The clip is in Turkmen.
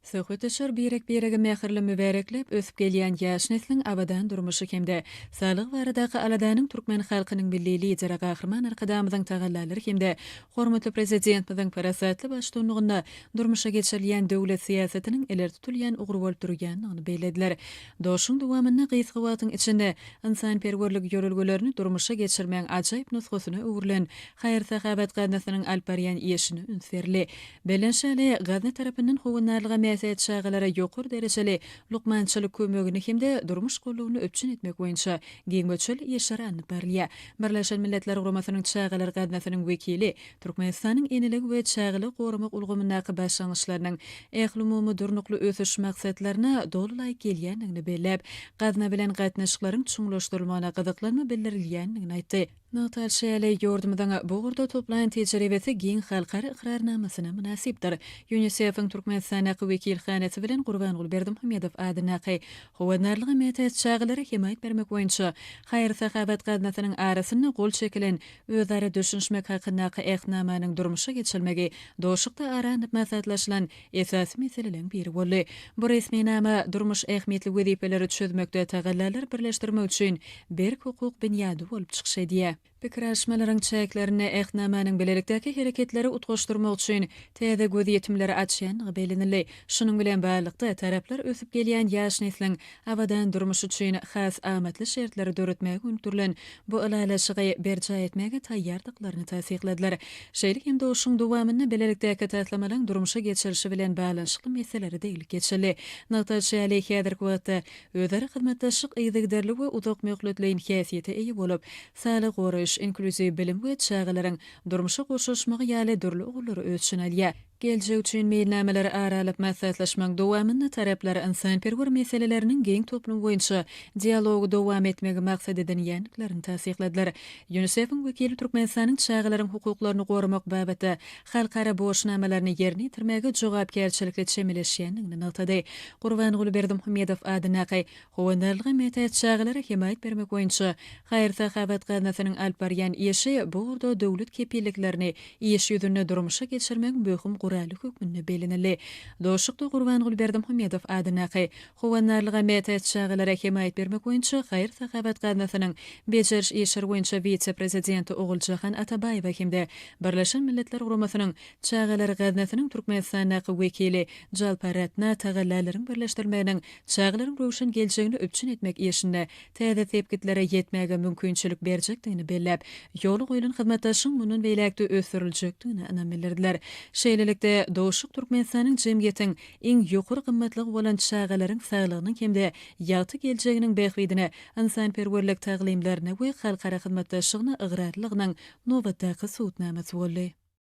Söhbetdeşler birek-biregi mähirli mübärekläp, ösüp gelýän ýaş nesliň abadan durmuşy hem-de saglygy baradaky aladanyň türkmen halkynyň Milli Lideri Gahryman Arkadagymyzyň tagallalary hem-de hormatly Prezidentimiziň parasatly baştuanlygynda durmuşa geçirilýän döwlet syýasatynyň ileri tutulýan ugry bolup durýandygyny bellediler. Duşuşygyň dowamynda gysga wagtyň içinde ynsanperwerlik ýörelgelerini durmuşa geçirmegiň ajaýyp nusgasyna öwrülen haýyr-sahawat gaznasynyň alyp barýan işine üns berildi. Belent şaly gazna tarapyndan howandarlyga mätäç çagalara ýokary derejeli lukmançylyk kömegini hem-de durmuş gollugyny üpjün etmek boýunça giň möçberli işler alnyp barylýar. Birleşen Milletler Guramasynyň Çagalar gaznasynyň wekili Türkmenistanyň Eneligi we çagalary goramak ulgamyndaky başlangyçlarynyň ählumumy durnukly ösüş maksatlaryna doly laýyk gelýändigini belläp, gazna bilen gatnaşyklaryň çuňlaşdyrylmagyna gyzyklanma bildirilýändigini aýtdy. Nygtalyşy ýaly, ýurdumyzyň bu ugurda toplaýan tejribesi giň halkara ykrarnamasyna mynasypdyr. Ýunisefiň Türkmenistandaky wekilhanasy bilen Gurbanguly Berdimuhamedow adyndaky Howandarlyga mätäç çagalara hemaýat bermek boýunça haýyr-sahawat gaznasynyň arasynda gol çekilen Özara düşünişmek hakyndaky Ähtnamanyň durmuşa geçirilmegi doşlukda ara alnyp maslahatlaşylan esasy meseleleň biri boldy. Bu resminama durmuş ähmiýetli wezipeleri çözmekde tagallalar birleşdirmek üçin berk hukuk binýady bolup çykyş edýär. Pikir alyşmalaryň çäklerinde Ähtnamanyň bilelikdäki hereketleri utgaşdyrmak üçin täze gözýetimleri açýandygy bellenildi. Şunuň bilen baglylykda, taraplar ösüp gelýän ýaş nesliň abadan durmuş üçin has amatly şertleri döretmäge gönükdirilen bu ylalaşygy berjaý etmäge taýýardyklaryny tassykladylar. Şeýle hem duşuşygyň dowamynda bilelikdäki taslamalaryň durmuşa geçirilişi bilen baglanyşykly meselelere degilip geçildi. Nygtalyşy ýaly, häzirki wagtda özara hyzmatdaşlyk yzygiderli we uzakmöhletleýin häsiýete eýe bolup, saglygy goraýyş, inklýuziw bilim we çagalaryň durmuşa goşulyşmagy ýaly dürli ugurlary öz içine alýar. Geljek üçin meýilnamalary ara alyp maslahatlaşmagyň dowamynda taraplar ynsanperwer meseleleriniň giň toplumy boýunça dialogy dowam etmegi maksat edinýändiklerini tassykladylar. Ýunisefiň wekili Türkmenistanyň çagalaryň hukuklaryny goramak babatda halkara borçnamalaryny ýerine ýetirmäge jogapkärçilikli çemeleşýändigini nygtady. Gurbanguly Berdimuhamedow adyndaky Howandarlyga mätäç çagalara hemaýat bermek boýunça haýyr-sahawat gaznasynyň alyp barýan işi bu ugurda döwlet kepilliklerini iş ýüzünde durmuşa geçirmegiň möhüm guraly hökmünde bellenildi. Duşuşykda Gurbanguly Berdimuhamedow adyndaky Howandarlyga mätäç çagalara hemaýat bermek boýunça haýyr-sahawat gaznasynyň bejeriş işleri boýunça wise-prezidenti Oguljahan Atabaýewa hem-de Birleşen Milletler Guramasynyň Çagalar gaznasynyň Türkmenistandaky wekili Jalparatna tagallalaryň birleşdirilmeginiň çagalaryň röwşen geljegini üpjün etmek işinde täze sepgitlere ýetmäge mümkinçilik berjekdigini belläp, ýola goýlan hyzmatdaşlygyň mundan beýläk-de ösdüriljekdigine ynam bildirdiler. Şeýlelikde, duşuşyk Türkmenistanyň jemgyýetiň iň ýokary gymmatlygy bolan çagalaryň saglygynyň hem-de ýagty geljeginiň bähbidine ynsanperwerlik taglymlaryna we halkara hyzmatdaşlygyna ygrarlylygynyň nobatdaky subutnamasy boldy.